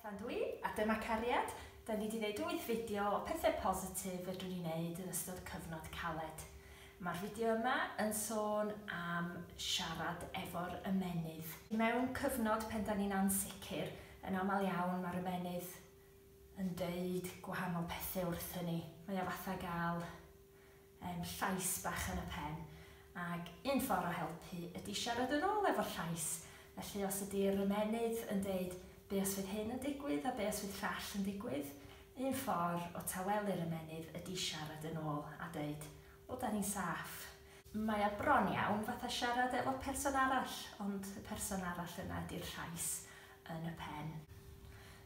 Bethan dw i, a dyma cariad. Da ni 'di neud wyth fideo o pethe positif fedrwn ni neud yn ystod cyfnod caled. Ma'r fideo yma yn sôn am siarad efo'r ymennydd. Mewn cyfnod pen da ni'n ansicr, yn amal iawn ma'r ymennydd yn deud gwahanol pethe wrthyn ni. Mae o fatha ga'l Yym, llais bach yn y pen. Ag un ffordd o helpu ydi siarad yn ôl efo'r llais. Felly os ydi'r ymennydd yn deud, be os fydd hyn yn digwydd a be os fydd llall yn digwydd? Un ffordd o tawelu'r ymennydd ydi siarad yn ôl a deud, o 'da ni'n saff. Mae o bron iawn fatha siarad efo person arall, ond y person arall yna ydi'r llais. yn y pen.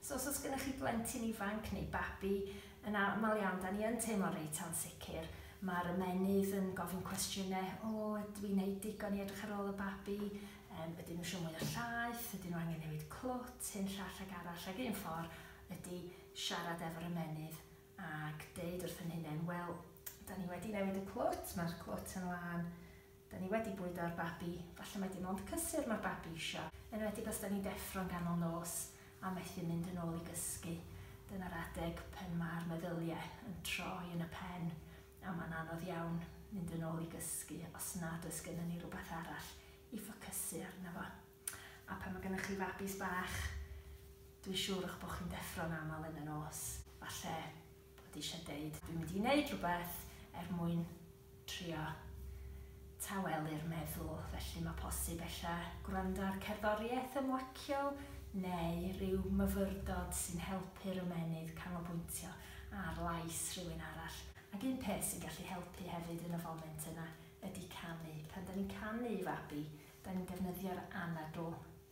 So os oes gennych chi blentyn ifanc neu babi, yn aml iawn, da ni yn teimlo reit ansicr. Mae'r ymennydd yn gofyn cwestiynau, o, ydw i'n neud digon i edrych ar ôl y babi? Um, ydyn nhw eisiau mwy o llaeth? Ydyn nhw angen newid clwt? Hyn llall ag arall. Ag un ffordd ydy siarad efo'r ymennydd ac deud wrth yn hunain, wel, da ni wedi newid y clwt, mae'r clwt yn lân Da ni wedi bwydo ar babi, falle mae dim ond cysur mae'r babi isio, enwedig os da ni'n deffro'n ganol nos a methu mynd yn ôl i gysgu. Dyna'r adeg pan mae'r meddyliau yn troi yn y pen a mae'n anodd iawn mynd yn ôl i gysgu os nad oes gennym ni rhywbeth arall i ffocysu arno fo. A pan mae gennych chi fabis bach, dwi'n siŵr eich bod chi'n deffro'n aml yn y nos. Falle bod eisiau deud dwi'n mynd i wneud rhywbeth er mwyn trio tawelu'r meddwl, felly mae posib ella gwrando ar cerddoriaeth ymlaciol neu ryw myfyrdod sy'n helpu'r ymennydd canolbwyntio ar lais rhywun arall. Ac un peth sy'n gallu helpu hefyd yn y foment yna ydy canu. Pan 'da ni'n canu i fabi, 'da ni'n defnyddio'r anadl.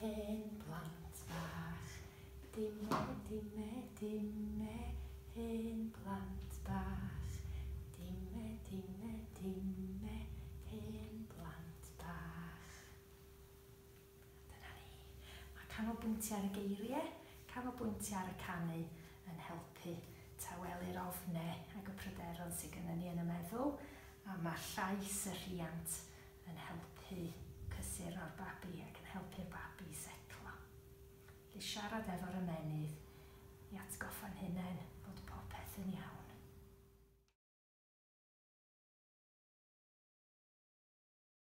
Hen blant bach, dime, dime, dime, Hen blant bach, dime, dime, dime, Hen blant bach. Dyna ni. Mae canolbwyntio ar y geiriau, canolbwyntio ar y canu yn helpu tawelu'r ofnau ac y pryderon sydd gynnon ni yn y meddwl, a mae llais y rhiant yn helpu cysuro'r babi ac yn helpu'r babi i setlo. Felly siarad efo'r ymennydd i atgoffa'n hunain bod popeth yn iawn.